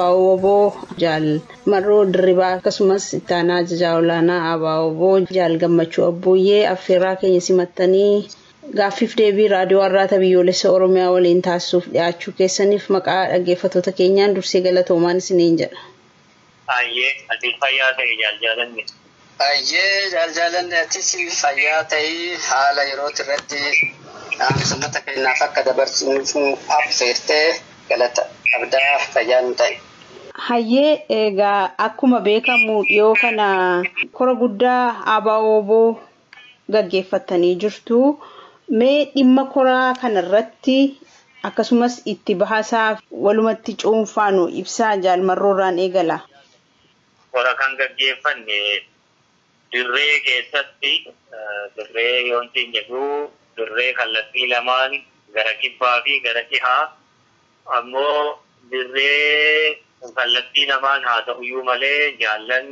Abaawoboo Jaal Marroo Dirribaa akkasumas ittaanaa ajajaa olaanaa Abaawoboo Jaal Gammachuu Abbuuyyee affeerraa keenya simattanii gaaffiif deebii raadiyoo Arraata Biyyoolessa Oromiyaa waliin taasisuuf dhiyaachuu keessaniif maqaa dhaggeeffattoota keenyaan dursee galatoomaan isiniin jedha. Hayyee ati fayyaa ta'i jaal jaalanne. Hayyee jaal jaalanne atis fayyaa ta'ii haala yerooti irratti dhaamsa uummata keenyaaf akka dabarsinuuf nu affeerte galata qabdaa fayyaa nu ta'i. Hayyee egaa akkuma beekamu dhiyoo kana kora guddaa ABO-wbo gaggeeffattanii jirtu. Mee dhimma koraa kanarratti akkasumas itti bahasaa walumatti cuunfaa nu ibsaa jaal Marroorraan eegala. Kora kan gaggeeffanne dirree keessatti. Dirree yoon siin jedhu dirree kallattii lamaan gara kibbaa fi gara dhihaa ammoo dirree kallattii lamaan haa ta'uyyuu malee jaallan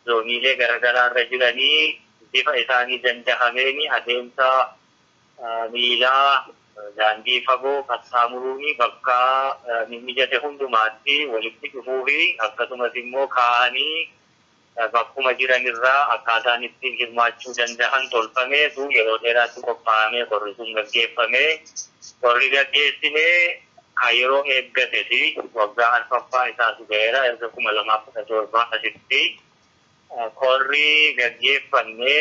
zooniilee garagaraarra jiranii bifa isaanii dandahameen adeemsa miilaa daandii fagoo qaxxaamuruu fi bakka mimmijate hundumaatti walitti dhufuu fi akkasumas immoo kaa'anii bakkuma jiran irraa akkaataan ittiin hirmaachuu dandahan tolfamee tu yeroo dheeraatti qophaa'amee korri sun gaggeeffame. Korri gaggeessine ka yeroo eeggate ti. Waggaa arfaffaa isaatu ga'eera erga 2017 asitti korri gaggeeffanne.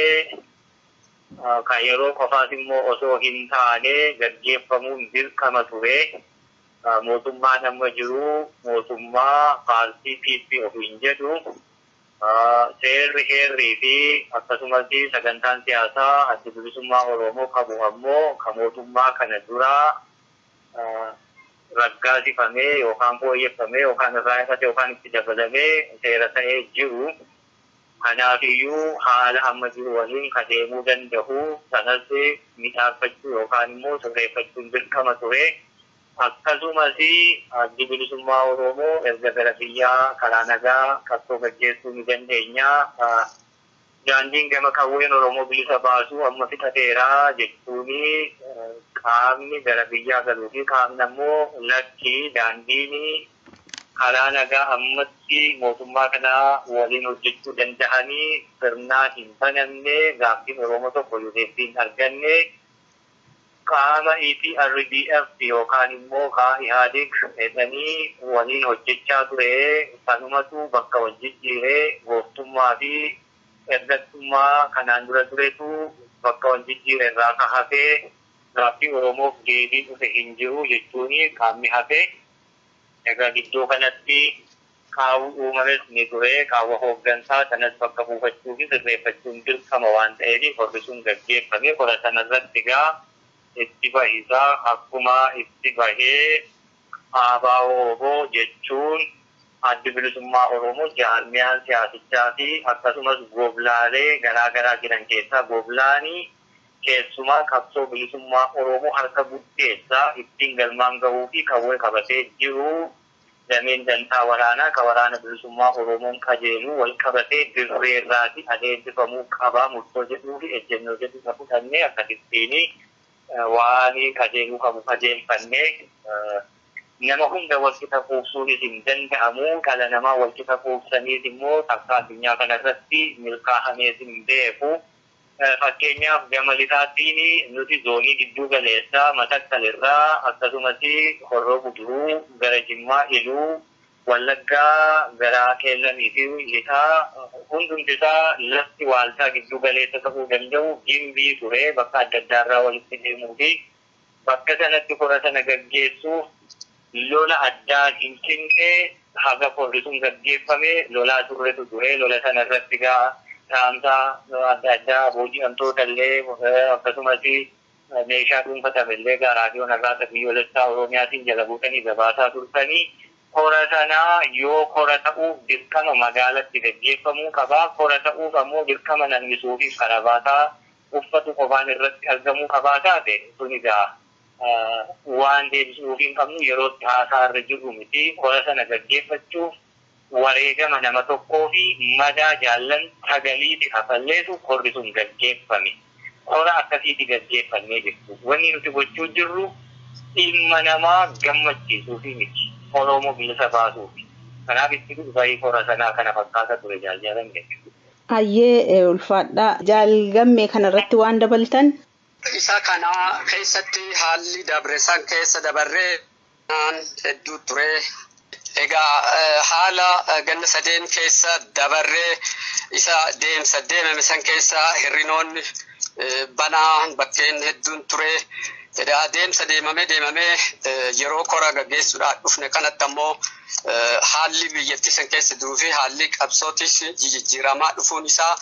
kan yeroo qofaas immoo osoo hin taane gaggeeffamuun dirqama ture. Mootummaan amma jiru mootummaa paartii PP ofiin jedhu seerri, heerrii fi akkasumas sagantaan siyaasaa Addi Bilisummaa Oromoo qabu ammoo ka mootummaa kana duraa raggaasifamee yookaan fooyyeffamee yookaan irraa hir'ate yookaan itti dabalamee seera ta'ee jiru. Kanaafiyyuu haala amma jiru waliin ka deemuu danda'u sanas midhaagfachuu yookaan immoo sirreeffachuun dirqama ture. Akkasumas Addi Bilisummaa Oromoo erga gara biyyaa karaa nagaa qabsoo gaggeessuu ni dandeenya, daandiin gama qawween Oromoo bilisa baasu amma fixateera jechuun qaamni gara biyyaa galuu fi qaamni ammoo lakki daandiin Karaa nagaa ammatti mootummaa kana waliin hojjechuu dandahanii sirnaa hin banamne, gaaffiin Oromoo tokko yoo deebbii hin arganne qaama EPRDF yookaan immoo kaa Ihaadig jedhanii waliin hojjechaa ture sanumatu bakka wal jijjiire, gooftummaa fi ergattummaa kanaan dura turetu bakka wal jijjiire irraa ka hafe gaaffii Oromoof deebiin dhufe hin jiru jechuun qaamni hafe Egaa gidduu kanatti qaawwi uumames ni ture. Qaawwa hooggansaa sanas bakka buufachuu fi sirreeffachuun dirqama waan ta'eef korri sun gaggeeffame. Kora sana irratti egaa itti bahi isaa akkuma itti bahee ABO-wbo jechuun Addi Bilisummaa Oromoo jaarmiyaan siyaasichaa fi akkasumas goblaalee garaa garaa jiran keessaa goblaani, Keessumaa qabsoo bilisummaa Oromoo harka guddeessaa ittiin galmaan gahuu fi qawwee qabatee jiru dameen dantaa waraanaa ka Waraana Bilisummaa Oromoon qajeeluu wal qabatee dirree irraati adeemsifamuu qaba murtoo jedhuu fi ejjennoo jedhu irra fudhannee akkasittiin waan qajeeluu qabu qajeelfannee nama hunda wal qixa quubsuunis hin danda'amu dhala namaa wal qixa quubsaniis immoo takkaa addunyaa kana irratti milkaahamees hin beeku. Fakkeenyaaf gama lixaatti nuti zoonii gidduu galeessaa Matakkal irraa akkasumas Horroo Guduruu gara Jimmaa, Iluu Wallaggaa gara Qeellamii fi lixaa hundumti isaa lafti waaltaa gidduu galeessa ta'uu danda'u Gimbii ture bakka adda addaa irraa walitti deemuu fi Bakka sanatti kora sana gaggeessuuf lola addaa Finfinnee haga korri sun gaggeeffame lolaa turretu ture. Lola sana irratti egaa dhaamsa adda addaa booji'amtoota illee akkasumas meeshaa dhuunfatame illee egaa raadiyoon arraata biyyoolessaa Oromiyaatiin jala buutanii gabaasaa turtanii. Kora sana yoo kora ta'uuf dirqama magaalatti gaggeeffamuu qaba. Kora ta'uuf ammoo dirqama namni suufiif karabaataa uffatu qofaan irratti argamuu qabaa taate sun egaa waan deebisnuuf hin qabnu yeroo itti haasaa irra jirru miti. Kora sana gaggeeffachuuf wareegama nama tokkoo fi madaa jaallan sagaliiti kafalleetu korri sun gaggeeffame. Kora akkasiiti gaggeeffannee jirtu. Wanni nuti gochuu jirru dhimma namaa gammachiisuufi miti. Oroomo bilisa baasuufi. Kanaaf itti bahi kora sanaa kana fakkaata ture Jaal Jaalan jechuudha. Hayyee ulfaadhaa jaal gammee kanarratti waan dabaltan. Isa kana keessatti haalli dabre san keessa dabarree naan hedduu ture. Egaa haala ganna sadeen keessa dabarree isa deemsa deemame san keessa hirrinoonni banaa bakkeen hedduun ture. Edaa deemsa deemamee deemamee yeroo kora gaggeessuudhaan dhufne kanatti ammoo haalli biyyattii san keessa jiruu fi haalli qabsootis jijijjiiramaa dhufuun isaa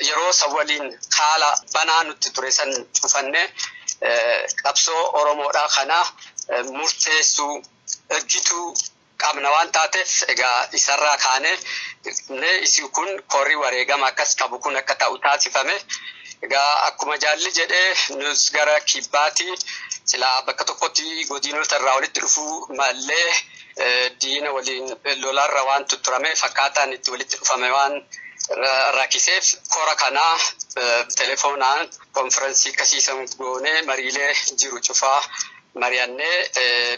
yeroo san waliin haala banaa nutti ture san cufanne qabsoo Oromoodhaa kana murteessuu ergituu qabna waan taateef egaa isarraa kaanee isin kun korii wareegama akkas qabu kun akka ta'u taasifame. Egaa akkuma jaalli jedhe nus gara kibbaati silaa bakka tokkotti godinota irraa walitti dhufuu mallee diina waliin lolaarra waan tutturame fakkaataan itti walitti dhufame waan rakkiseef kora kana telefoonaan konfirensii akkasiisan goonee mariilee jiru cufaa mari'annee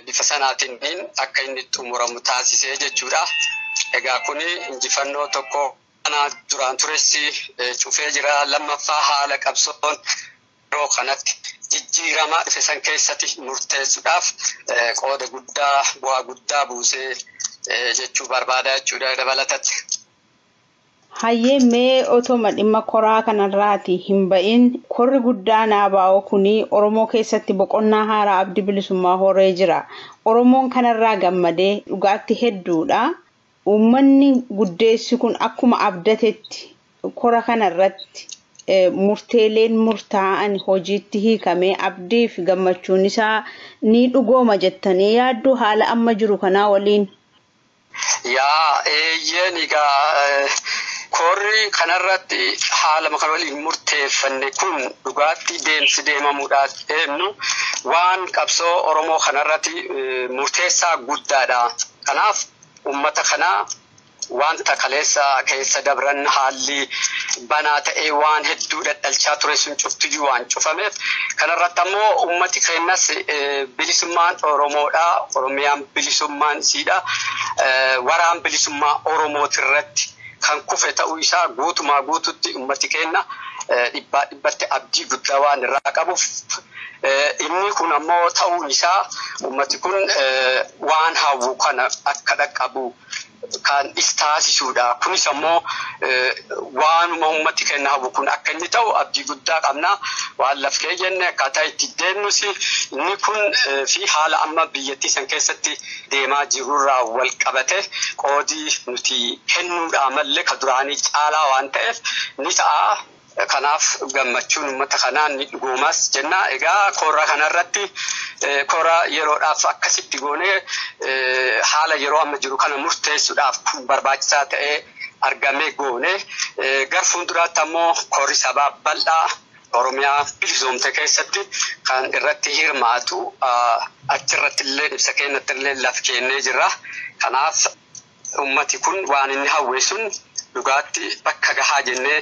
bifa sanaatiin akka inni xumuramu taasisee jechuudha. Egaa kun injifannoo tokko Kana duraan tures cufee jira. Lammaffaa haala qabsoon yeroo kanatti jijjiiramaa dhufe san keessatti murteessuudhaaf qooda guddaa bu'aa guddaa buusee jechuu barbaada jechuudha dabalatatti. Hayyee mee otoma dhimma koraa kanarraati hin ba'in korri guddaan ABO kuni Oromoo keessatti boqonnaa haaraa abdi bilisummaa horee jira. Oromoon kanarraa gammadee dhugaatti hedduudha. Uummanni guddeessi kun akkuma abdatetti kora kana irratti murteeleen murtaa'an hojiitti hiikamee abdii fi gammachuun isaa ni dhugooma jettanii yaadduu haala amma jiru kanaa waliin? Yaa eeyyeen egaa korri kanarratti haalama kan waliin murteeffanne kun dhugaatti deemsi deemamuudha deemnu waan qabsoo Oromoo kanarratti murteessaa guddaadha. Kanaaf ummata kana wanta kaleessa keessa dabran haalli banaa ta'ee waan hedduu dhadhalchaa ture sun cuftiyyuu waan cufameef kana irratti ammoo ummati keennas bilisummaan Oromoodha, Oromiyaan bilisummaan isiidha, waraan bilisummaa Oromooti irratti kan kufe ta'uu isaa guutumaa guututti ummati keenna dhibbaa dhibbatti abdii guddaa waan irraa qabuuf, Inni kun ammoo ta'uun isaa ummati kun waan hawwu kana akka dhaqqabu kan is taasisuudha. Kunis ammoo waanuma ummati keenya hawwu kun akka inni ta'u abdii guddaa qabna. Waan laf keeyyenne akkaataa itti deemnus inni kun fi haala amma biyyattii san keessatti deemaa jirurraa wal qabate qoodi nuti kennuudhaa malle ka duraanii caalaa waan ta'eef ni ta'a. Kanaaf gammachuun ummata kanaa ni dhugoomaas jenna. Egaa kora kanarratti kora yeroodhaaf akkasitti goonee haala yeroo amma jiru kana murteessuudhaaf kun barbaachisaa ta'ee argamee goone. Gar fuulduraatti ammoo korri sabaa bal'aa Oromiyaa bilisoomte keessatti kan irratti hirmaatu achirratti illee ibsa keenyatti illee laf keennee jirra. Kanaaf Ummati kun waan inni hawwe sun dhugaatti bakka gahaa jennee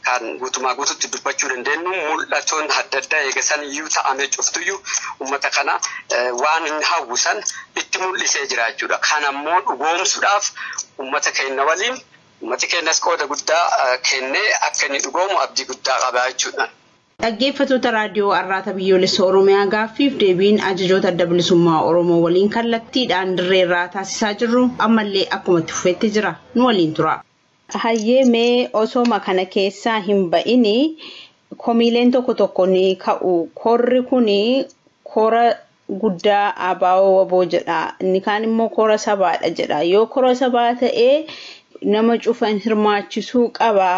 kan guutumaa guututti dubbachuu dandeennu mul'atoon adda addaa eega san iyyuu ta'amee cuftuyyu ummata kana waan inni hawwu san itti mul'isee jira jechuudha. Kan ammoo dhugoomsuudhaaf ummata keenna waliin ummati keennas qooda guddaa kennee akka inni dhugoomu abdii guddaa qaba jechuudha. Dhaggeeffatoota Raadiyoo Arraata Biyyoolessa Oromiyaa gaaffiif deebiin ajajoota Adda Bilisummaa Oromoo waliin kallattiidhaan dirree irraa taasisaa jirru ammallee akkuma itti fufetti jira. Nu waliin turaa. Hayyee mee osooma kana keessaa hin ba'ini komiileen tokko tokko ni ka'u. Korri kuni kora guddaa ABO wbo jedha inni kaan immoo kora sabaadha jedha yoo kora sabaa ta'e nama cufa hin hirmaachisuu qaba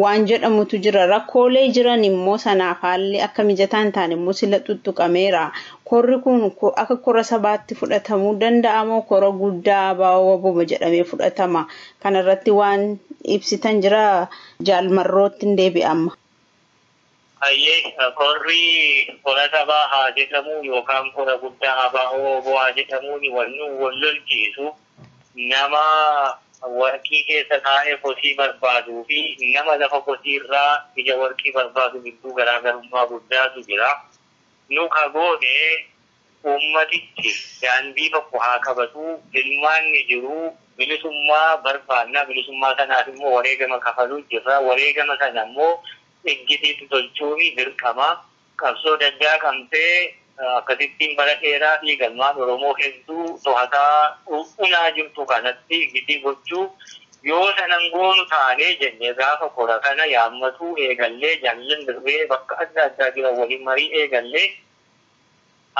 waan jedhamutu jira rakkoolee jiran immoo sanaaf haalli akka mijataa hin taane immoo sila xuxxuqameera korri kun akka kora sabaatti fudhatamuu danda'a moo kora guddaa ABO wbo jedhamee fudhatama kanarratti waan ibsitan jira jaal marrootti hin deebi'a amma. Hayyee, korri kora sabaa haa jedhamuu yookaan kora guddaa ABO wbo haa jedhamuuni wal nu wal lolchiisu nama warqii keessa taa'ee kosii barbaaduu fi nama lafa kosii irraa ija warqii barbaadu gidduu garaagarummaa guddaatu jira. Nu ka goone Uummatichi daandii tokko haa qabatu, filmaanni jiru bilisummaa barbaanna, bilisummaa sanaaf immoo wareegama kafaluu jirra, wareegama sana immoo iggitiitti tolchuun dirqama. Qabsoo Daggaa Qamtee akkasittiin bara dheeraadhiif ilmaan Oromoo hedduu tohataa, unaa jirtu kanatti iggitii gochuu yoo sana hin goonu taane jennee gaafa kora kana yaammatuu eegallee jaallan dirree bakka adda addaa jiran waliin marii eegalle.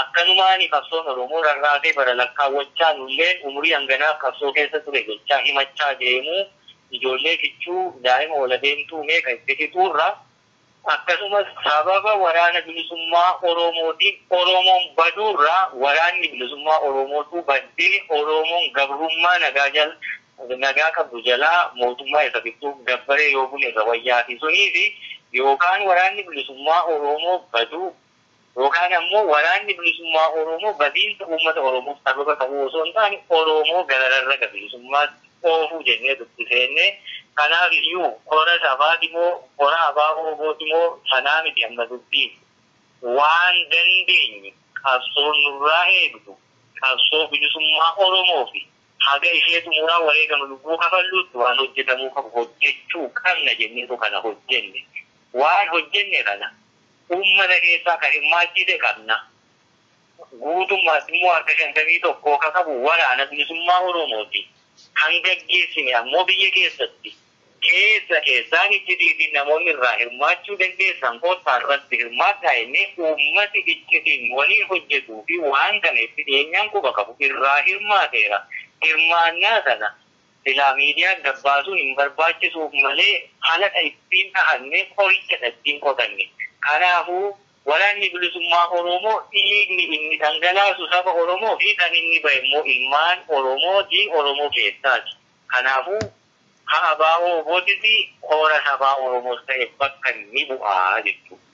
Akkanumaani qabsoon Oromoo rarraatee bara lakkaawwachaa nulleen umurii hanganaaf qabsoo keessa ture jechaa himachaa deemuu ijoollee kichuu, daa'ima ol adeemtuu meeqa itti fixuurra akkasumas sababa waraana bilisummaa Oromootiin Oromoon baduurra waraanni bilisummaa Oromootuu baddee Oromoon gabrummaa nagaa jal nagaa qabdu jalaa mootummaa isa fixxuuf gabbaree yoo bune irra wayyaati. Suniifi yookaan waraanni bilisummaa Oromoo baduu. Yookaan ammoo waraanni bilisummaa Oromoo badiinsa uummata Oromoof sababa ta'uu osoo hin taane Oromoo gara rarraga bilisummaatti oofuu jennee dubbi seenne. Kanaaf iyyuu kora sabaati moo kora ABO-wbo ti moo sanaa miti amma dubbiin. Waan dandeenyu qabsoon nurraa eegdu qabsoo bilisummaa Oromoo fi haga ishee xumuraa wareegama lubbuu kafalluutti waan hojjetamuu qabu hojjechuu qabna jenneetu kana hojjenne. Waan hojjenne kana uummata keessaa ka hirmaachiise qabna. Guutummaatti immoo harka 51 ka qabu Waraana Bilisummaa Oromoo ti. Kan gaggeessine ammoo biyya keessatti. Keessa keessaan iccitii fi namoonni irraa hirmaachuu dandeessan kottaa irratti hirmaadhaa jennee uummati iccitiin nu waliin hojjetuu fi waan kana itti dhiyeenyaan quba qabu irraa hirmaateera. Hirmaannaa sana. Silaa miidiyaan gabbaasuu hin barbaachisuuf malee halaqa ittiin dhahanne qorichadha ittiin qotanne. Kanaafuu Waraanni Bilisummaa Oromoo dhiigni inni dhangalaasu saba Oromoo fi kan inni bahe immoo ilmaan Oromoo ti, Oromoo keessaati. Kanaafuu ha ABO-WBOtis koora sabaa Oromoos ta'e bakka ni bu'a jechuudha.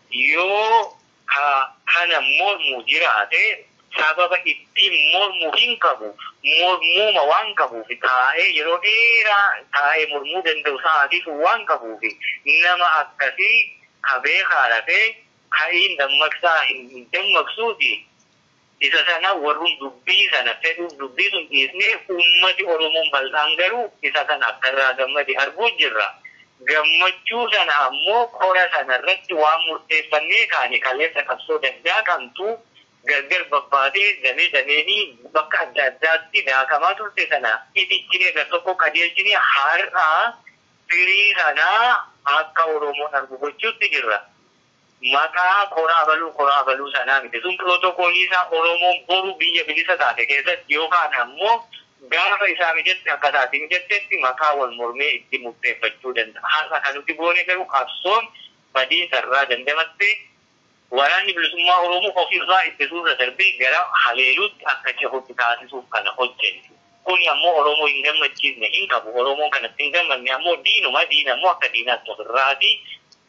Yoo ka kana mormu jiraate, sababa ittiin mormu hin qabu, mormuuma waan qabuuf, taa'ee yeroo dheeraa taa'ee mormuu danda'u sa'aatii sun waan qabuuf, nama akkasii ka beekaa rafee, ka'iin dammaqsaa hin dammaqsuutii. Isa sana warrum dubbii sana fedhuuf dubbii sun dhiisnee ummati Oromoon bal'aan garuu isa kana akka irraa gammade arguu jirra. Gammachuu sana ammoo kora sana irratti waan murteeffannee kaane kaleessa qabsoo dandaaqamtu gargar babbaatee damee dameeni bakka adda addaatti daakamaa turte sana itichinee gar tokko qajeelchine har'a firii sana akka Oromoon argu gochuutti jirra. Maqaa kora abaluu kora abaluu sanaa miti. Sun pirootokoolii isaa Oromoon boru biyya bilisa taate keessatti yookaan ammoo gaafa isaa mijatte akka isaa itti mijattetti maqaa wal mormee itti murteeffachuu danda'a. Har'a kan nuti goone garuu qabsoon badiinsa irraa dandamattee Waraanni Bilisummaa Oromoo of irraa ittisuu irra darbee gara haleeluutti akka cehutti taasisuuf kana hojjenne. Kuni ammoo Oromoo hin gammachiisne hin qabu. Oromoon kanatti hin gammadne ammoo diinuma. Diina ammoo akka diinaatti of irraa ti.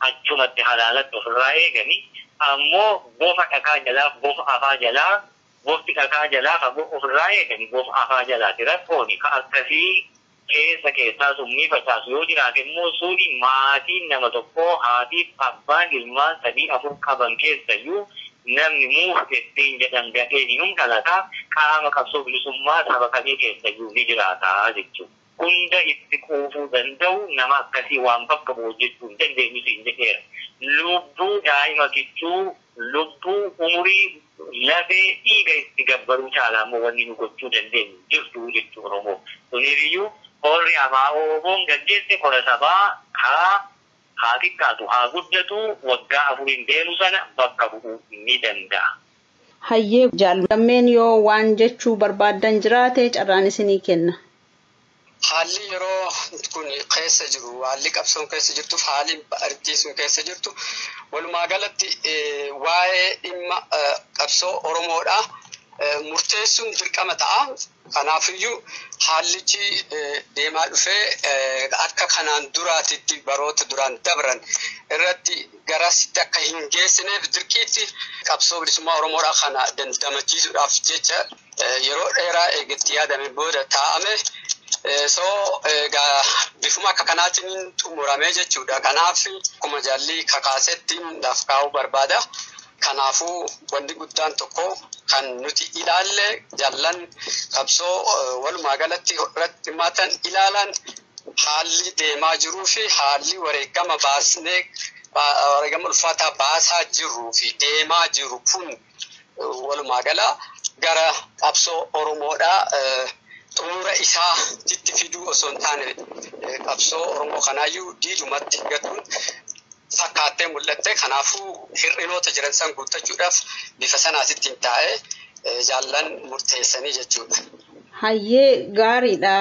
Achumatti halaalatti of irraa eegani. Ammoo bofa dhakaa jalaa, bofa afaa jalaa, bofti dhakaa jalaa fagoo of irraa eegani. Bofa afaa jalaa ti rakkooni. Ka akkasii keessa keessaa summii facaasu yoo jiraate immoo suni maatiin nama tokkoo, haatiif abbaan ilmaan sadii afur qaban keessayyuu Namni muufte siin jedhan dafee inum dhalata, qaama qabsoo bilisummaa saba kamii keessayyuu ni jiraata jechuun hunda itti quufuu danda'u nama akkasii waan bakka bu'u hojjechuu hin dandeenyu siin jedheera. Lubbuu daa'ima kichuu, lubbuu, umurii, lafee, dhiiga itti gabbaruu caalaa immoo wanni nu gochuu dandeenyu hin jirtu jechuun Oromoo. Suniifiyyuu korri ABO-WBOn gaggeesse kora sabaa ka Haa xiqqaatu haa guddatu waggaa afuriin deemu sana bakka bu'uu ni danda'a. Hayyee Jaal Gammeen yoo waan jechuu barbaaddan jiraate carraan isinii kenna. Haalli yeroo kun keessa jiru, haalli qabsoon keessa jirtuuf haali ardiin sun keessa jirtu walumaa galatti waa'ee dhimma qabsoo Oromoodha. Murteessuun dirqama ta'a. Kanaafiyyuu haallichi deemaa dhufee akka kanaan duraatitti baroota duraan dabran irratti garasitti akka hin geessineef dirqiitti qabsoo bilisummaa Oromoodhaa kana dandamachiisuudhaaf jecha yeroo dheeraa eega itti yaadamee booda taa'ame. So egaa bifuma akka kanaatiin xumurame jechuudha. Kanaaf akkuma jaalli kakaasetti laf kaa'uu barbaada. Kanaafuu wanni guddaan tokko kan nuti ilaalle jaallan qabsoo walumaa galatti irratti hirmaatan ilaalan haalli deemaa jiruu fi haalli wareegama baasnee wareegama ulfaataa baasaa jirruu fi deemaa jiru kun walumaa gala gara qabsoo Oromoodhaa xumura isaa titti fiduu osoo hin taane qabsoo Oromoo kanaayyuu diidumatti gatuun fakkaattee mul'atte. Kanaafuu hir'inoota jiran san guuttachuudhaaf bifa sanaatittiin taa'ee jaallan murteessanii jechuudha. Hayyee gaariidha.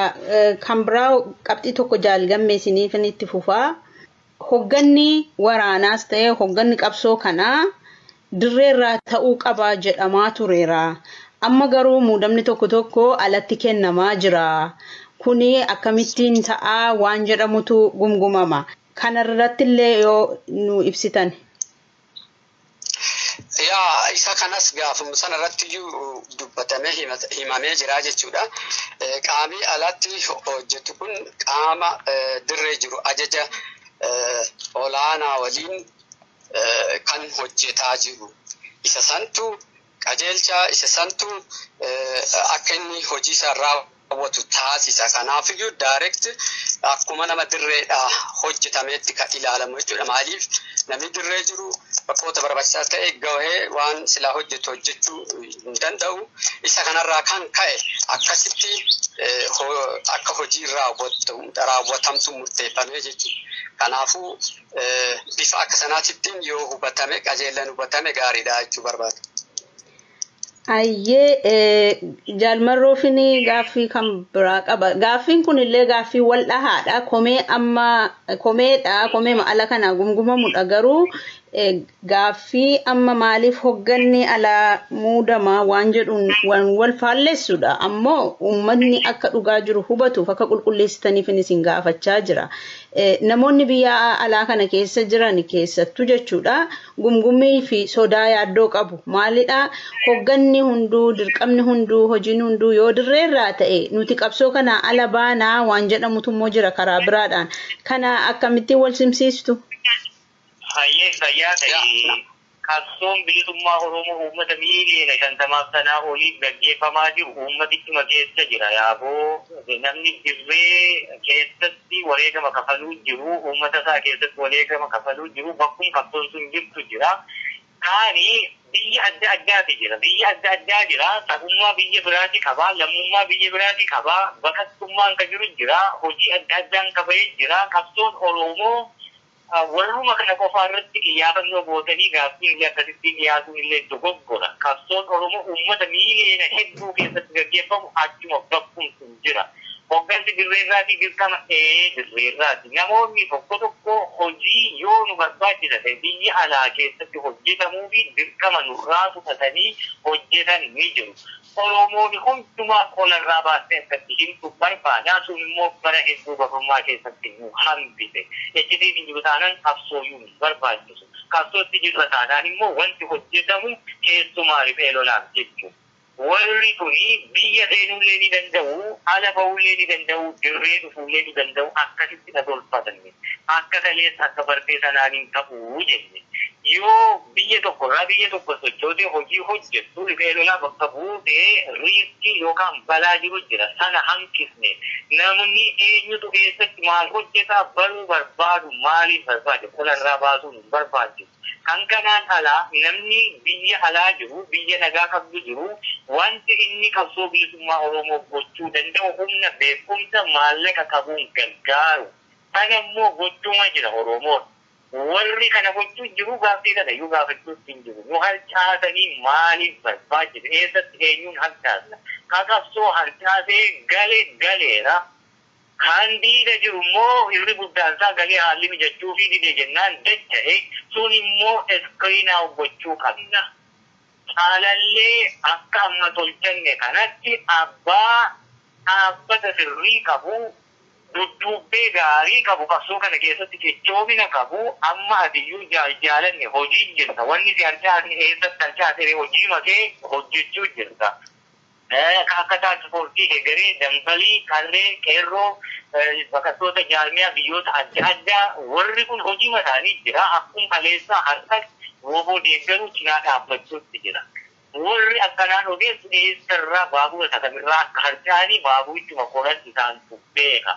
Kan biraa qabxii tokko jaal gammee isiniifin itti fufaa. Hogganni waraanaas ta'ee hogganni qabsoo kanaa dirreerraa ta'uu qaba jedhamaa tureera. Amma garuu muudamni tokko tokko alatti kennamaa jira. Kuni akkamittiin ta'a waan jedhamutu gumgumama. Kanarrattillee yoo nu ibsitan. Yaa isa kanas gaafuma sana irratti iyyuu dubbatamee himamee jira jechuudha. Qaamii alatti hojjetu kun qaama dirree jiru ajaja olaanaa waliin kan hojjetaa jiru. Isa santu Qajeelchaa isa santu akka inni hojii isaa raawwatu taasisa. Kanaafiyyuu direct akkuma nama dirreedha hojjetameetti kan ilaalamu jechuudha. Maaliif namni dirree jiru bakkoota barbaachisaa ta'e gahee waan silaa hojjetu hojjechuu hin danda'u. Isa kanarraa kan ka'e akkasitti akka hojii raawwatamtu murteeffamee jechuudha. Kanaafuu Bifa akka sanaatittiin yoo hubatame qajeellan hubatame gaariidha jechuu barbaada. Ayyee jaalmarroofin gaaffii kan biraa qaba. Gaaffiin kun illee gaaffii wal dhahaadha. Komee amma komeedha. Komee ala kana gumgumamudha garuu gaaffii amma maaliif hogganni alaa muudama waan jedhuun waan wal faallessudha. Ammoo uummanni akka dhugaa jiru hubatuuf akka qulqulleessitaniif isin gaafachaa jira. Namoonni biyya alaa kana keessa jiran keessattuu jechuudha gumgummii fi sodaa yaaddoo qabu. Maalidha hogganni hunduu dirqamni hunduu hojiin hunduu yoo dirreerraa ta'e nuti qabsoo kanaa ala baanaa waan jedhamutu immoo jira karaa biraadhaan. Kana akkamittiin wal simsiistu? Hayyee fayyaa ta'e qabsoon bilisummaa Oromoo uummata miiliyoona shantamaaf sanaa oliin gaggeeffamaa jiru uummatichuma keessa jira. Yaaboo namni dirree keessatti wareegama kafaluu jiru, uummata isaa keessatti wareegama kafaluu jiru bakkuma qabsoon sun jirtu jira. Kaani biyya adda addaati jira. Biyya adda addaa jira. Sabummaa biyya biraati qaba. Lammummaa biyya biraati qaba. Baqattummaan ka jiru jira. Hojii adda addaan ka bahe jira. Qabsoon Oroomoo Warruma kana qofaa irratti iyyaafannoo gootanii gaaffiin illee akkasittiin dhiyaatuun illee dogoggora. Qabsoon Oromoo uummata miiliyoona hedduu keessatti gaggeeffamu achuma bakkum sun jira. Hoggansi dirree irraatii dirqama? Ee dirree irraati. Namoonni tokko tokko hojii yoo nu barbaachisa ta'e biyya alaa keessatti hojjetamuufi dirqama nurraa fudhatanii hojjetan ni jiru. Oromooni hundumaa qola irraa baastee akka itti himtu barbaada. Sun immoo bara hedduu gabrummaa keessatti nu hambise. Iccitiin hin jiru taanaan qabsooyuun hin barbaachisu. Qabsootti jirra taanaan immoo wanti hojjetamu keessumaa riphee lolaaf jechu. Warri kuni biyya seenuullee ni danda'u, ala ba'uullee ni danda'u, dirree dhufuullee ni danda'u akkasitti na tolfatani. akka kaleessa akka barbee sanaan hin ta'u jenne. Yoo biyya tokko irraa biyya tokko sochootee hojii hojjettu riphee lolaa bakka buute riiskii yookaan balaa jiru jira. Sana hanqisne. Namni eenyutu eessatti maal hojjeta baruu barbaadu maaliif barbaade qola irraa baasuun hin barbaachisu. Kan kanaan alaa namni biyya alaa jiru biyya nagaa qabdu jiru wanti inni qabsoo bilisummaa Oromoof gochuu danda'u humna, beekumsa, maallaqa qabuun gargaaru. Kan ammoo gochuuma jira Oromoon. Warri kana gochuu jiru gaaffii kana iyyuu gaafachuutti hin jiru. Nu harcaasanii maaliif barbaachise? Eessatti eenyuun harcaasna? Ka qabsoo harcaasee gale galeera. Kan diida jiru immoo irri guddaan isaa galee haalli mijachuufii dide jennaan dacha'e. Sun immoo screen out gochuu qabna. Caalallee akka amma tolchanne kanatti abbaa dhaabbata sirrii qabu, Dudduubbee gaarii qabu qabsoo kana keessatti cichoomina qabu amma atiyyuu jaal jaalanne hojii jirta wanni si harcaasne eessatti harcaasere hojiima kee hojjechuu jirta ka akka task force kee garee dambalii qarree qeerroo baqattoota jaarmiyaa biyyoota adda addaa warri kun hojiima isaanii jira akkum kaleessaa harkas wbo deeggaruu cinaa dhaabbachuutti jira Warri akkanaan odeessu eessarraa, baabura isa kamirraa akka harca'anii baaburichuma qolan isaantu beeka.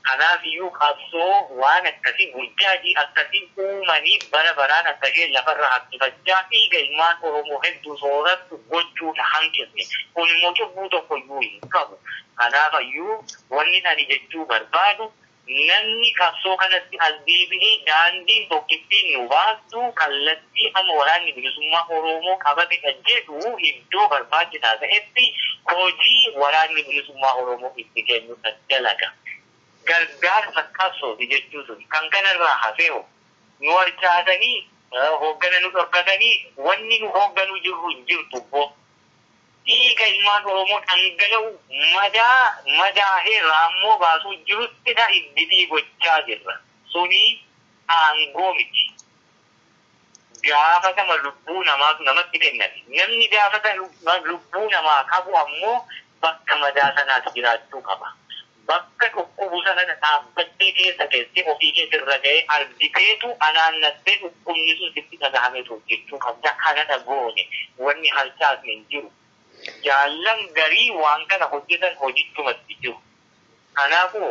Kanaafiyyuu qabsoo waan akkasii, burjaajii akkasii uumanii bara baraan akka isheen lafarra harkifachaa dhiiga ilmaan Oromoo hedduu soorattu gochuu hin hanqifne. Kunimmoo cubbuu tokkoyyuu hin qabu. Kanaafayyuu wannin ani jechuu barbaadu, Namni qabsoo kanatti as deebi'e daandiin tokkittiin nu baastu kallattii amma Waraanni Bilisummaa Oroomoo qabatedha jedhu iddoo barbaachisaa ta'etti hojii Waraanni Bilisummaa Oroomoo itti kennudha dalaga. Gargaarsa qabsooti jechuu suni. Kan kanarraa hafeho? Nu harcaasanii, hooggana nu dhorkatanii wanni nu hoogganuu jirru hin jirtu wbo. dhiiga ilmaan Oromoo dhangala'u madaa madaahee raammoo baasuu jiruttidha iggitii gochaa jirra. Suni aangoo miti. Gaafatama lubbuu namaatu namatti kenname. Namni gaafatama lubbuu namaa qabu ammoo bakka madaa sanaati jiraachuu qaba. Bakka dhukkubu sana dhadhaabbattee keessa teessee ofii kee sirra ga'ee argiteetu anaannattee dhukkubni sun sitti dhagahameetu hojjechuu qabda. Kanadha goone. Wanni harcaasne hin jiru. Jaallan garii waan kana hojjetan hojichumatti jiru. Kanaafu,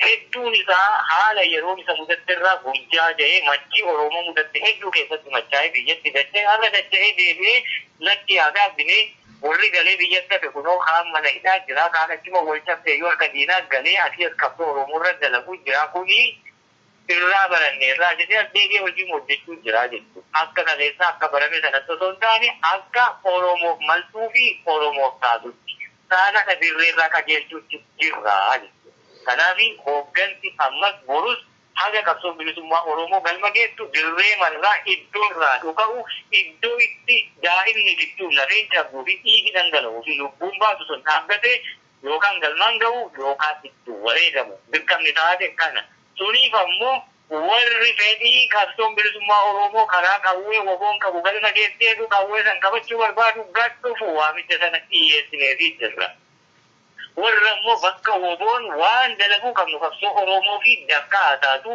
hedduun isaa haala yeroon isa mudatte irraa burjaaja'ee machii Oromoo mudatte hedduu keessatti machaa'ee biyyatti dacha'e. Har'a dacha'ee deebi'ee lakki yaa gaabbine. Worri galee biyyatti hafe kunoo kaan mana hidhaa jira, kaan achuma wol cabseeyyuu harka diinaa galee asii as qabsoo Oromoo irra dalaguu jira. Kuni irraa baranneerraa jedhee as deebi'ee hojiima hojjechuu jira jechuudha. Akka kaleessaa akka barame sanatti osoo hin taane akka Oromoof maltuu fi Oromoof taatutti, saanadha dirreerraa qajeelchuutti jirra jechuudha. Kanaafi hooggansi ammas borus Haga qabsoon bilisummaa Oromoo galma geettu dirreema irraa, iddoo irraa dhuka'u, iddoo itti daa'imni diddu, lafeen cabduu fi dhiigi dhangala'uu fi lubbuun baatu sun dhaabbatee yookaan galmaan ga'u yookaan itti wareegamu dirqamni taate kana. Suniif ammoo warri fedhii qabsoon bilisummaa Oromoo karaa qawwee wbo'n qabu galma geesseetu qawwee san qabachuu barbaadu gad dhufu waamicha sana dhiyyeessineefii jirra. Warra immoo bakka woboon waan dalaguu qabnu qabsoo Oromoofi dafqa haa taatu,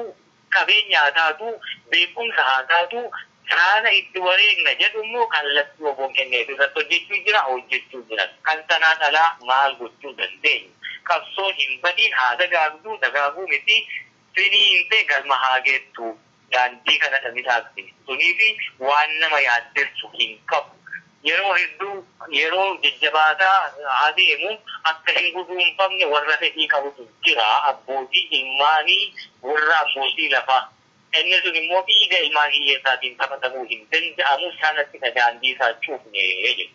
qabeenya haa taatu, beekumsa haa taatu saana itti wareegna jedhu immoo kallattii woboon kenneef irratti hojjechuu jira, hojjechuu jiras. Kan sanaan alaa maal gochuu dandeenya? Qabsoon hin badiin haa dagaagdu, dagaaguu miti. Sinii himtee galma haa geettu daandii kana dhamisaatti suniifi waan nama yaaddessu hin qabu yeroo hedduu yeroo jajjabaataa adeemu akka hin guduunfamne warra fedhii qabutu jira abbootii ilmaanii warra abbootii lafaa inni sun immoo dhiiga ilmaan hiyyeessaatiin taphatamuu hin danda'amu sanattidha daandii isaa cufne jechuudha.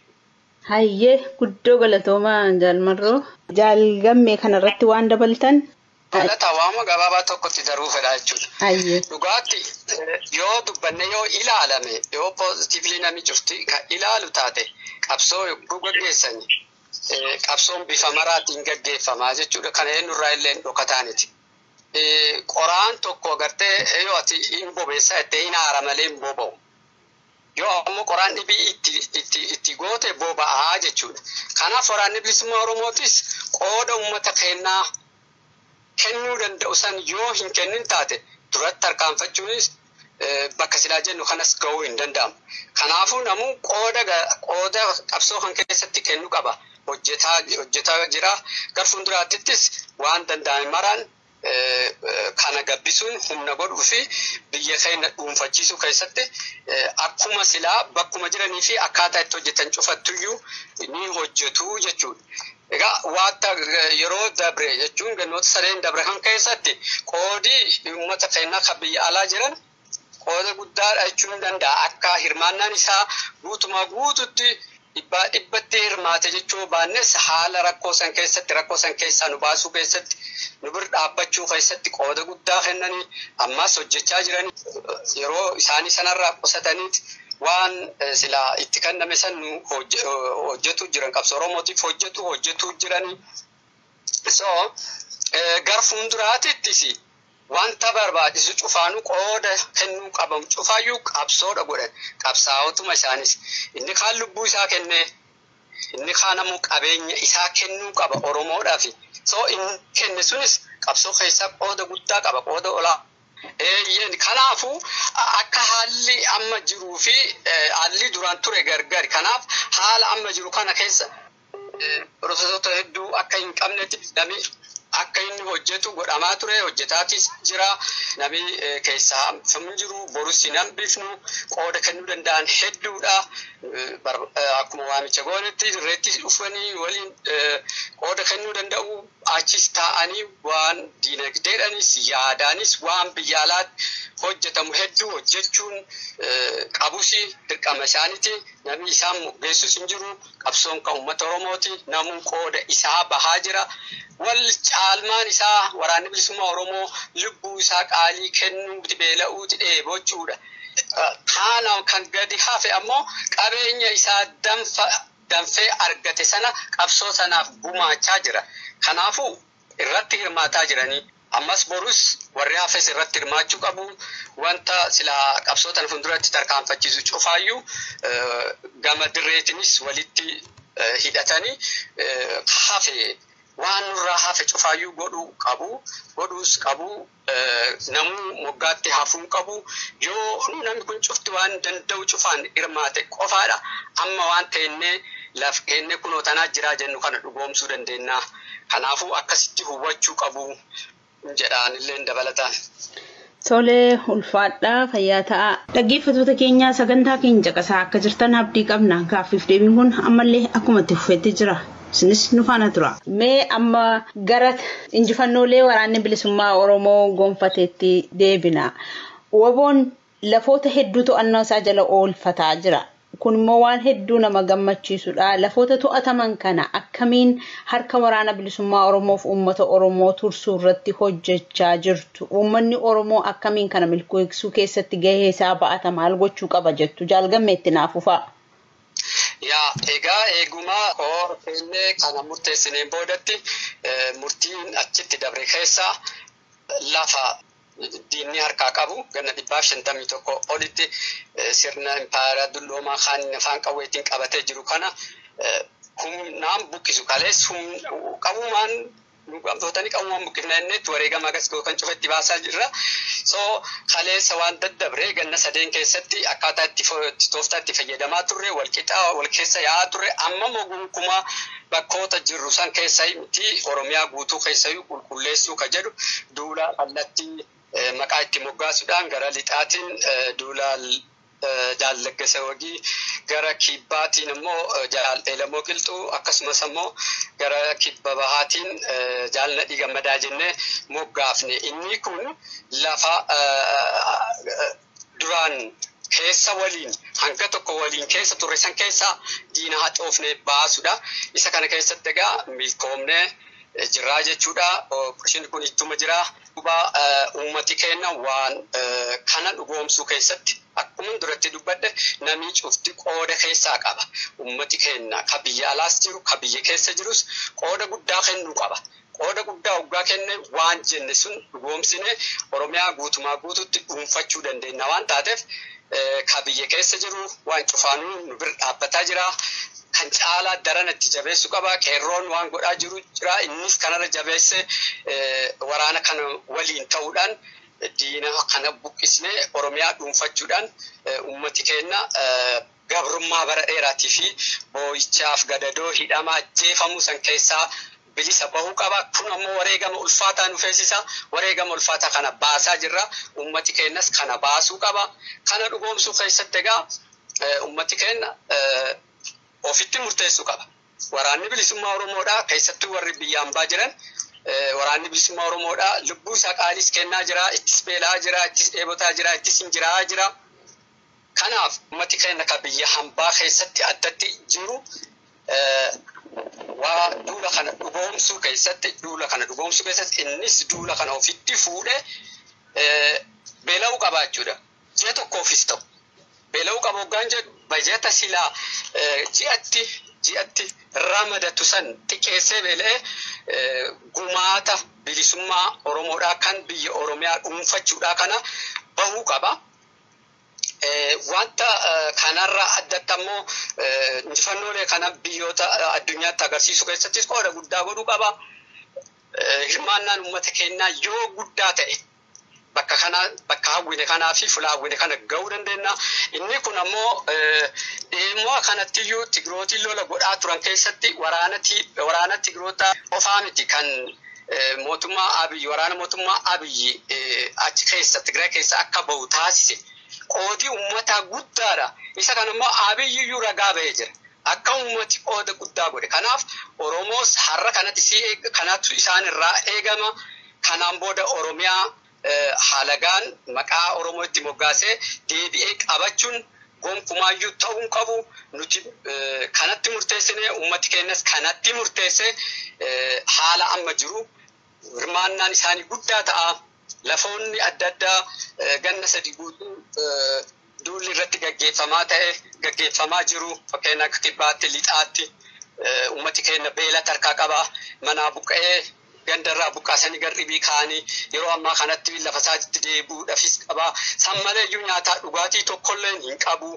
Hayyee guddoo galatoomaa jaal marroo. Jaal Gammee kanarratti waan dabaltan? Galata waama gabaabaa tokkotti daruu fedhaa jechuudha. Ayyee. Dhugaatti yoo dubbanne yoo ilaalame yoo poozitiivlii namni cufti kan ilaalu taate qabsoo yogguu gaggeessani eh, qabsoon bifa maraatiin gaggeeffamaa jechuudha. Kana eenyurraa illee hin dhokataaniti. Eh, Qoraan tokko agartee yoo ati hin bobeessaa jettee hin aara malee hin boba'u. Yoo ammoo qoraan dhibii itti, itti, itti goote boba'a jechuudha. Kanaaf Waraanni Bilisummaa Oromootis qooda uummata keennaa kennuu danda'u san yoo hin kennin taate duratti tarkaanfachuunis bakka silaa jennu kanas gahuu hin danda'amu. Kanaafuu namuu qooda, qooda qabsoo kan keessatti kennu qaba. Hojjetaa, hojjetaa jira. Gar fuulduraattis waan danda'ame maraan kana gabbisuun humna godhuu fi biyya keenya dhuunfachiisuu keessatti akkuma silaa bakkuma jiranii fi akkaataa itti hojjetan cufattuyyuu ni hojjetu jechuudha. Egaa waata yeroo dabre jechuun gannoota sadeen dabre kan keessatti qoodii uummata keenyaa kan biyya alaa jiran qooda guddaadha jechuun nan danda'a. Akka hirmaannaan isaa guutumaa guututti dhibbaa dhibbatti hirmaate jechuu baannes haala rakkoo san keessatti rakkoo san keessaa nu baasuu keessatti nu bir dhaabbachuu keessatti qooda guddaa kennanii ammas hojjechaa jiran yeroo isaanii sanarraa qusataniit waan silaa itti kenname san nu hojjetu jiran qabsoo Oromootiif hojjetu hojjetu jiranii. So gar fuulduraatittis Wanta barbaachisu cufaanuu qooda kennuu qabamu cufaayyuu qabsoodha godhan. Qabsaa'otuma isaanis. Inni kaan lubbuu isaa kennee, inni kaan ammoo qabeenya isaa kennuu qaba Oromoodhaafi. So inni kenne sunis qabsoo keessaa qooda guddaa qaba, qooda olaa. Eeyyeen, kanaafuu akka haalli amma jiruufi haalli duraan ture gargari. Kanaaf haala amma jiru kana keessa. piroosesoota hedduu akka hin qabnetti namni akka inni hojjetu godhamaa ture hojjetaatis jira namni keessaa hambifamuu jiru borus hin hambifnu qooda kennuu danda'an hedduudha akkuma waamicha goonetti dirreetti dhufanii waliin qooda kennuu danda'u achis taa'anii waan diinagdeedhanis yaadaanis waan biyya alaatti hojjetamu hedduu hojjechuun qabusi dirqama isaaniiti namni isaan geessus hin jiru. Qabsoon kan uummata Oromooti. Namuu qooda isaa bahaa jira. Wal caalmaan isaa Waraanni Bilisummaa Oromoo lubbuu isaa qaalii kennuuti, beela'uuti, dheebochuudha. Kaana kan gadi hafe ammoo qabeenya isaa danfa danfee argate sana qabsoo sanaaf gumaachaa jira. Kanaafuu irratti hirmaataa jiranii ammas borus warri hafes irratti hirmaachuu qabu. Wanta silaa qabsoo tana funduratti tarkaanfachiisu cufaayyuu gama dirreetinis walitti hidhatanii hafe waan nurraa hafe cufaayyuu godhuu qabu. Godhuus qabu. Namuu moggaatti hafuu hin qabu. Yoo namni kun cufti waan danda'u cufaan hirmaate qofaadha amma waan teennee laf keennee kunoo tanaa jiraa jennu kana dhugoomsuu dandeenna. Kanaafuu akkasitti hubachuu qabu jedha anilleen dabalataan. Tole ulfaadhaa fayyaa ta'a. Dhaggeeffatoota keenya sagantaa keenya caqasaa akka jirtan abdii qabna. Gaaffiif deebiin kun ammallee akkuma itti fufetti jira. Isinis nu faana turaa. Mee amma gara injifannoolee waraanni bilisummaa Oromoo gonfateetti deebina. Waboon lafoota hedduu to'annoo isaa jala oolfataa jira. Kun immoo waan hedduu nama gammachiisudha. Lafoota to'ataman kana akkamiin harka waraana bilisummaa Oromoof uummata Oromoo tursuu irratti hojjechaa jirtu? Uummanni Oromoo akkamiin kana milkeessuu keessatti gahee isaa ba'ata maal gochuu qaba jettu? Jaal Gammee itti naaf fufaa. Yaa egaa eeguma Koor keenne kana murteessineen boodatti murtiin achitti dabre keessaa lafa diinni harkaa qabu ganna 151 olitti sirna impaayera dulloomaa kan afaan qawweetiin qabatee jiru kana humnaan buqqisu kalees qabumaan Luqqamtootani qawwuma buqqifna jennee itti wareegama agas gootan cufa itti baasaa jirra. So kaleessa waan daddabre ganna sadeen keessatti akkaataa itti tooftaa itti fayyadamaa turre wal qixa wal keessa yaa'aa turre amma immoo gonkumaa bakkoota jirru san keessa miti Oromiyaa guutuu keessayyuu qulqulleessuu ka jedhu duula kallattii maqaa itti moggaasuudhaan gara lixaatiin duula Jaal Laggasee Wagii, gara kibbaatiin ammoo Jaal Eelamoo Qilxuu akkasumas ammoo gara kibba bahaatiin Jaal Nadhii Gammadaa jennee moggaafne. Inni kun lafa duraan keessa waliin hanga tokko waliin keessa turre san keessaa diina haxoofne baasudha. Isa kana keessatti egaa milkoomne jirraa jechuudha. Operation kun ittuma jira. Duuba ummati keenna waan kana dhugoomsuu keessatti akkuman duratti dubbadhe namii cufti qooda keessaa qaba. Ummati keenna ka biyya alaas jiru ka biyya keessa jirus qooda guddaa kennuu qaba. Qooda guddaa hoggaa kenne waan jenne sun dhugoomsinee Oromiyaa guutumaa guututti dhuunfachuu dandeenna waan taateef ka biyya keessa jiru waan cufaanuu nu bir dhaabbataa jira. Kan caalaa darana itti jabeessu qaba. Qeerroon waan godhaa jiru jira. Innis kanarra jabeesse waraana kana waliin ta'uudhaan diina kana buqqisnee Oromiyaa dhuunfachuudhaan uummati keenya gabrummaa bara dheeraatii fi boo'ichaaf gadadoo hidhamaa jeefamuu san keessaa bilisa bahuu qaba. Kun ammoo wareegama ulfaataa nu feesisa. Wareegama ulfaataa kana baasaa jirra. Ummati keenyas kana baasuu qaba. Kana dhugoomsuu keessatti egaa ummati keenya ofitti murteessuu qaba. Waraanni Bilisummaa Oromoodha. Keessattuu warri biyya ambaa jiran Waraanni Bilisummaa Oromoodha. Lubbuu isaa qaaliis kennaa jira. Ittis beela'aa jira. Ittis dheebotaa jira. Ittis injiraa'aa jira. Kanaaf ummati keenya kan biyya hambaa keessatti addatti jiru waa duula kana dhugoomsuu keessatti duula kana dhugoomsuu keessatti innis duula kana ofitti fuudhe beela'uu qaba jechuudha. Ji'a tokkoofis ta'u beela'uu qaba hoggaan jedhu bajata silaa ji'atti ji'atti ramadatu san xiqqeessee beela'ee gumaata bilisummaa Oromoodhaa kan biyya Oromiyaa dhuunfachuudhaa kana bahuu qaba. Wanta kanarraa addatti ammoo injifannoolee kana biyyoota addunyaatti agarsiisuu keessattis qooda guddaa godhuu qaba. Hirmaannaan uummata keenyaa yoo guddaa ta'e bakka kana bakka hawwine kanaa fi fuula hawwine kana ga'uu dandeenya. Inni kun ammoo dhimma kanattiyyuu Tigrootiin lola godhaa turan keessatti waraana Tigroota qofaa miti kan mootummaa Abiyyi waraana mootummaa Abiyyi achi keessa Tigraay keessa akka bahu taasise qoodii uummataa guddaadha. Isa kana immoo Abiyyi iyyuu ragaa bahee jira. Akka uummati qooda guddaa godhe. Kanaaf Oromoos har'a kanatti si kanaatu isaan irraa eegama. Kanaan booda Oromiyaa halagaan maqaa Oromoo itti moggaasee deebi'ee qabachuun gonkumaayyuu ta'uu hin qabu. Nuti kanatti murteessine uummati keenyas kanatti murteesse haala amma jiru hirmaannaan isaanii guddaa ta'a. Lafoonni adda addaa ganna sadi guutuu duulli irratti gaggeeffamaa ta'e gaggeeffamaa jiru fakkeenya akka kibbaatti lixaatti uummati keenya beela tarkaa qaba manaa buqqa'ee ganda irraa buqqaasanii gar dhibii kaa'anii yeroo ammaa kanatti lafa isaatitti deebi'uudhafis qaba. San malee iyyuu nyaataa dhugaatii tokkolleen hin qabu.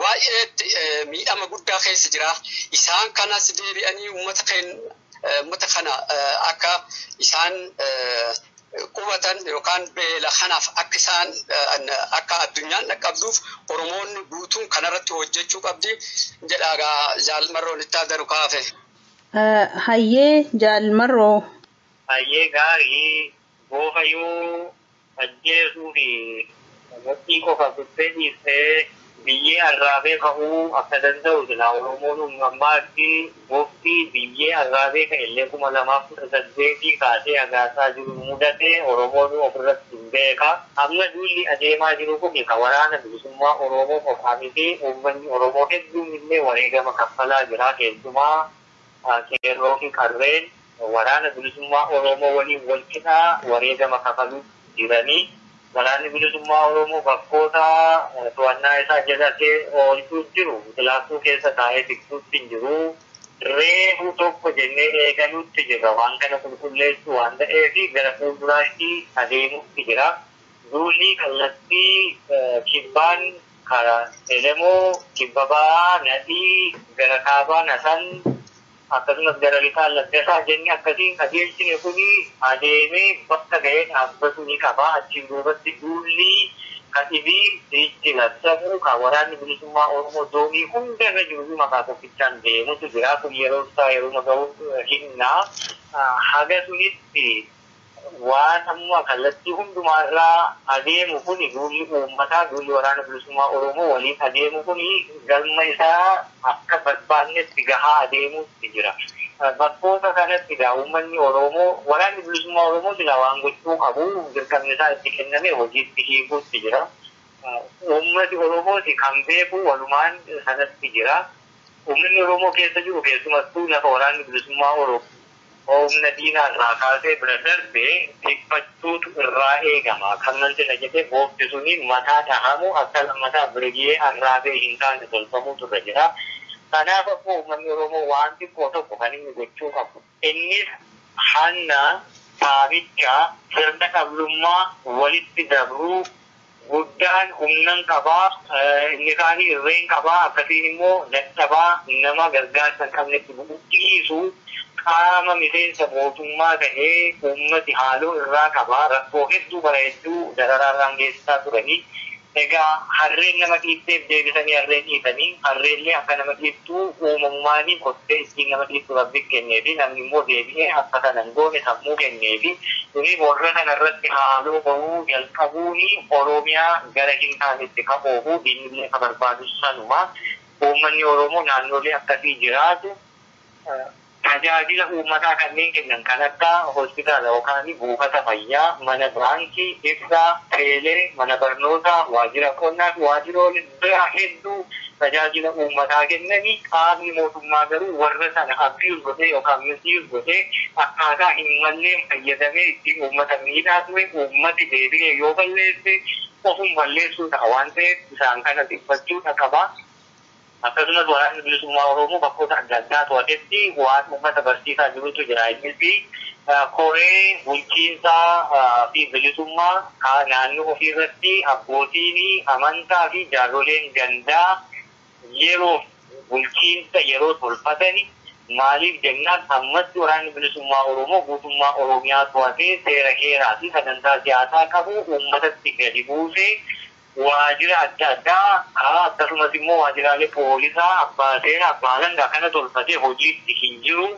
Waa'eetti miidhama guddaa keessa jira. Isaan kanas deebi'anii uummata keenya uummata kana akka isaan qubatan yookaan beela kanaaf akka isaan akka addunyaan dhaqqabduuf Oromoonni guutuun kanarratti hojjechuu qabdi jedha jaalmarroon itti addanu kaafe. Hayyee jaal marroo. Hayyee gaari boofa yuu ajjeesuu fi mudhii qofa kuttee dhiistee biyyee arraabee ka'uu akka danda'u silaa oromoon hung ammaa itti bofti biyyee arraabee ka'ellee 2018 kaasee hagaasaa jiru nu mudatee oromoonu ofirratti hin beeka. Amma duulli adeemaa jiru kuni ka waraana bilisummaa Oroomoo qofaa miti, uummanni Oromoo hedduun illee wareegama kaffalaa jira, keessumaa qeerroo fi qarreen waraana bilisummaa Oroomoo waliin wal qixa wareegama kafaluutti jirani. Waraanni bilisummaa Oroomoo bakkoota to'annaa isaa jala oolchuutti jiru, kilaassuu keessa taa'ee tiksuutti hin jiru. reefu tokko jennee eegaluutti jirra. Waan kana qulqulleessuu waan ta'eef gara fuulduraatti adeemuutti jira. Duulli kallattii kibbaan karaa Elemoo, kibba ba'aa Nadhii, gara kaabaan Asan akkasumas gara lixaan Laggasaa jenne akkasiin qajeelchine kuni adeemee bakka ga'ee dhaabbatuu ni qaba. Achiin duubatti duulli ka dhibii sichi labsamuu ka Waraanni Bilisummaa Oromoo zoonii hunda irra jiruyyuu maqaa tokkicha. kan deemutu jira kun yeroo isaa yeruma gahu himna haga sunitti waan amma kallattii hundumaa irraa adeemu kuni duulli uummataa duulli waraana bilisummaa oromoo waliin adeemu kuni galma isaa akka barbaannetti gahaa adeemuutti jira bakkoota kanatti egaa uummanni oroomoo waraanni bilisummaa oromoo silaa waan gochuu qabu dirqamni isaa itti kenname hojiitti hiikuutti jira. Uummati Oromoos kan beeku walumaan sanatti jira. Uummanni Oromoo keessa jiru keessumattuu lafa Waraanni Bilisummaa Oromoo humna diinaa irraa kaasee bira darbe tikfachuutu irraa eegama. Kan manxina jedhee boofti suni mataa dhahamu akka lammataa Birigiyee Arraabee hin taane tolfamuutu irra jira. Kanaaf ammoo uummanni Oromoo waan xiqqoo tokko kan inni gochuu qabu. Innis hanna, saamicha, sirna dhablummaa, walitti dabruu, guddaan humnan qaba, inni kaani irreen qaba, akkasiin immoo dadhabaa, nama gargaarsa hin qabnetti bu'u, dhiisu, qaama miseensa mootummaa tahee uummati haaloo irraa qaba, rakkoo hedduu bara hedduu dararaa irraan geessisaa turanii. Egaa harreen nama dhiifteef deebisanii harreen dhiisani. Harreellee akka nama dhiiftu uumamumaani kottee issiin nama dhiiftu Rabbin kenneefi. Namni immoo deebi'ee akka kana hin goone sammuu kenneefi. Kuni warra kana irratti haaloo bahuu jalqabuuni Oroomiyaa gara hin taanetti ka oofu diinnillee ka barbaadus sanuma. Uummanni Oroomoo naannoolee akkasii jiraatu. Tajaajila uummataa kanneen kennan kan akka hospitaala yookaan buufata fayyaa, mana baankii, ibsaa, teelee, mana barnootaa, waajjira qonnaa fi waajjiroolee biraa hedduu tajaajila uummataa kennani qaamni mootummaa garuu warra sana abuse godhee yookaan misuse godhee akkaataa hin malleen fayyadamee ittiin uummata miidhaa ture uummati deebi'ee yoo balleesse ofum balleessuu ta'a waan ta'eef isaan kana dhiphachuudha qaba. Akkasumas Waraanni Bilisummaa Oromoo bakkoota adda addaa to'atetti waan uummata barsiisaa jirutu jira. Innis koree bulchiinsaa fi bilisummaa naannoo ofii irratti abbootiin amantaa fi jaarroleen gandaa yeroof bulchiinsa yeroo tolfatani. Maaliif jennaan ammatti Waraanni Bilisummaa Oromoo guutummaa Oromiyaa to'atee seera heeraa fi sagantaa siyaasaa qabu uummatatti gadi buusee, waajira adda addaa haa akkasumas immoo waajiraalee poolisaa, abbaa seeraa, abbaa alangaa kana tolfatee hojiitti hin jiru.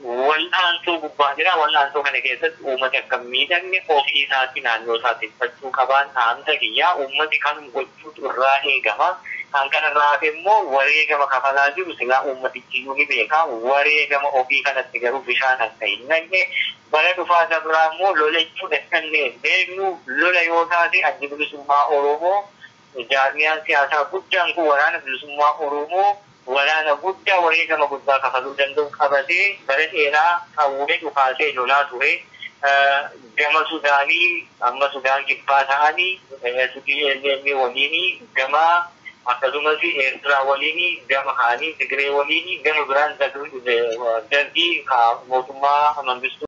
Wal'aansoo gubbaa jira. Wal'aansoo kana keessatti uummati akka hin miidhamne ofii isaatii naannoo isaa tikfachuu qabaan dhaamsa kiyya. Uummati kanum gochuutu irraa eegama. Kan kana irraa hafe immoo wareegama kafalaa jiru silaa uummatichi iyyuu ni beeka. Wareegama ofii kanatti garuu bishaan akka hin naqne. Bara dhufaa isa biraa immoo lola jechuun eessa akka ga'e hin beeknu. Lola yoo taate Addi Bilisummaa Oromoo jaarmiyaan siyaasaa guddaan kun Waraana Bilisummaa Oromoo waraana guddaa wareegama guddaa kafaluu danda'u qabatee bara dheeraa qawwee dhukaasee lolaa ture. Gama Sudaanii amma Sudaan Kibbaa ta'anii SPLM waliin gama Akkasumasi Eertiraa waliini gama kaani, Tigiree waliini gama biraan Dargii ka mootummaa Mangistuu.